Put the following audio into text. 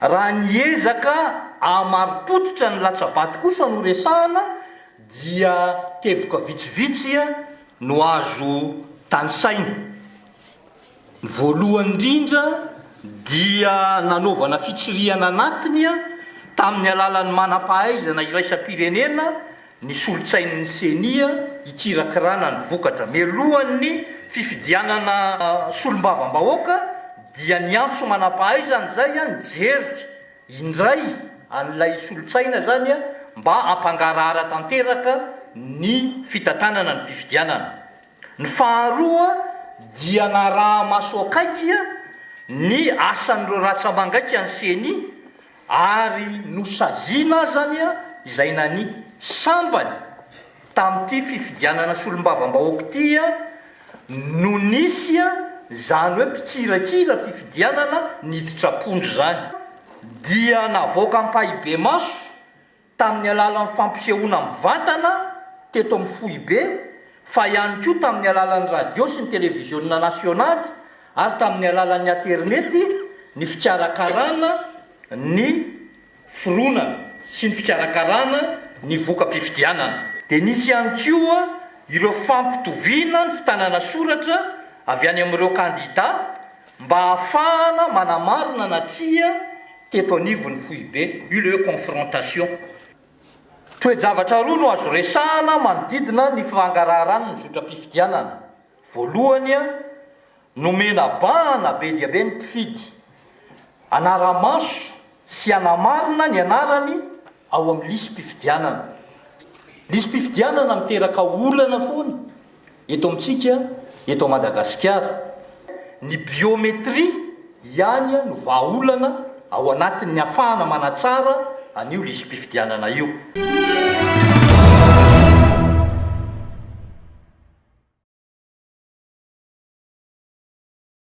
Raha ny ezaka hahamarim-pototra ny latsa-bato kosa no resahana dia teboka vitsivitsy no azo tanisaina. Ny voalohany indrindra dia nanaovana fitsirihana anatiny tamin'ny alalan'ny manam-pahaizana iraisam-pirenena, ny solontsain'ny Ceni hikirakirana ny vokatra mialohan'ny fifidianana solombavambahoaka dia niantso manampahaizana izay ny Jerika indray an'ilay solontsaina izany mba hampangarahara tanteraka ny fitantanana ny fifidianana. Ny faharoa dia naraha-maso akaiky ny asan'ireo ratsa-mangaika ny Ceni ary nosaziana azany izay nani sambany tamin'ity fifidianana solombavambahoaka ity no nisy izany hoe mpitsirakira fifidianana niditra am-pondro izany dia navoaka ampahibemaso tamin'ny alalan'ny fampisehoana mivantana teto amin'ny foibe fa ihany koa tamin'ny alalan'ny radio sy ny televiziona nasionaly ary tamin'ny alalan'ny aterineto ny fikarakarana ny fironana sy ny fikarakarana ny voka-pifidianana. Dia nisy ihany koa ireo fampitoviana ny fitanana soratra avy any amin'ireo kandida mba hahafahana manamarina na tsia teto anivon'ny foibe, eut lieu confrontation. Toe-javatra roa no azo resahana manodidina ny fangaraharany ny zotram-pifidianana. Voalohany, nomena bahana be dia be ny mpifidy hanara-maso sy hanamarina ny anarany ao amin'ny lisi-pifidianana. Lisi-pifidianana miteraka olana foana Eto amintsika eto Madagasikara, ny biométrie ihany no vahaolana ao anatin'ny hafahana manatsara an'io lisi-pifidianana io.